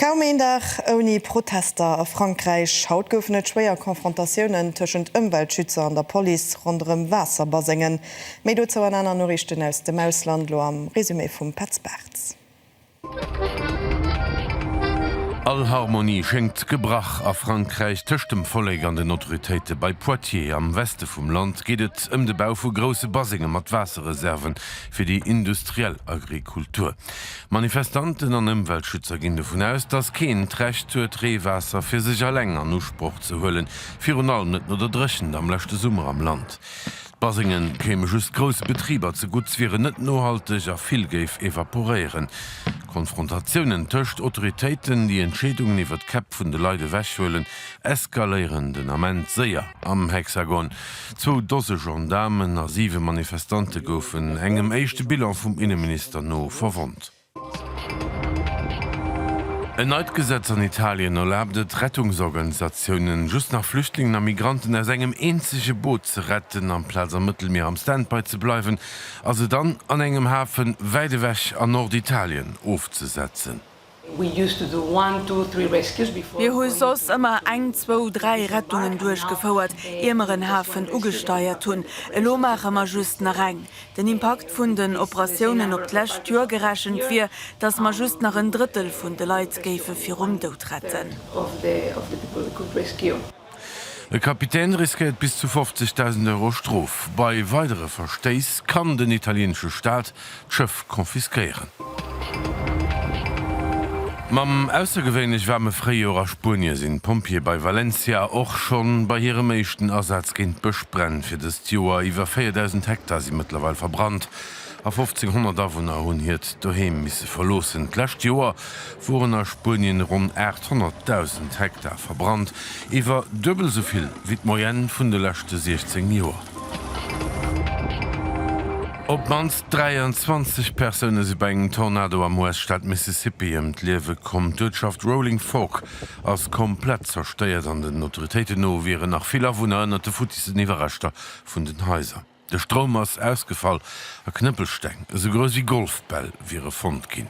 Kaum een Dag ouni Protester a Frankräich. Haut goufen et schwéier Confrontatiounen tëschent Ëmweltschützer an der Police ronderëm Waasserbasengen. Méi dozou an aner Noriichten aus dem Ausland, lo am Resumé vum Petz Bartz. All Harmonie schéngt gebrach a Frankräich. Tëscht dem Vollek an den Autoritéite bei Poitiers am Weste vum Land geet et ëm de Bau vu grousse Basenge mat Waasserreserven fir déi industriell Agrikultur. Manifestanten an Ëmweltschützer ginn dovun aus, datt keen d'Recht huet, Reewaasser fir sech alleng an Usproch ze huelen, virun allem net no der Dréchent am leschte Summer am Land. D'Basenge kéime just grousse Betriber zegutt, wieren net nohalteg a vill géif evaporéieren. Konfrontatiounen tëscht Autoritéiten, déi Entscheedungen iwwer d'Käpp vun de Leit ewechhuelen, eskaléieren den Ament séier am Hexagon. Zwou Dose Gendaarmen a siwe Manifestante goufen, engem éischte Bilan vum Inneminister no, verwonnt. En neit Gesetz an Italien erlaabt et Rettungsorganisatiounen, just nach Flüchtlingen a Migranten aus engem eenzege Boot ze retten. Amplaz am Mëttelmier am Standby ze bleiwen a se dann an engem Hafen wäit ewech an Norditalien ofzesetzen. Mir hu soss ëmmer eng, zwou, dräi Rettungen duerchgefouert, ier mer en Hafen ugesteiert hunn. Elo maache mer just nach eng. Den Impakt vun den Operatiounen op d'lescht Joer gerechent wier, datt mer just nach en Drëttel vun de Leit géife virum Doud retten. E Kapitän riskéiert bis zu 50.000 Euro Strof. Bei weidere Verstéiss kann den italieenesche Staat d'Schëff confisquéieren. Mam aussergewéinlech waarme Fréijoer a Spuenie sinn d'Pompjeeë bei Valencia och schonn bei hirem éischten Asaz géint Bëschbränn. Fir dëst Joer iwwer 4.000 Hektar si mëttlerweil verbrannt. A 1500 Awunner hunn hiert Doheem misse verloossen. D'lescht Joer woren a Spuenien ronn 800.000 Hektar verbrannt, iwwer duebel esou vill wéi d'Moyenne vun de leschte 16 Joer. Op d'mannst 23 Persoune si bei engem Tornado am US-Staat Mississippi ëm d'Liewe komm. D'Uertschaft Rolling Fork ass komplett zerstéiert an den Autoritéiten no wieren nach vill Awunner ënnert de futtissen Iwwerreschter vun den Haiser. De Stroum ass ausgefall a Knëppelsteng, esou grouss ewéi Golfbäll, wiere fonnt ginn.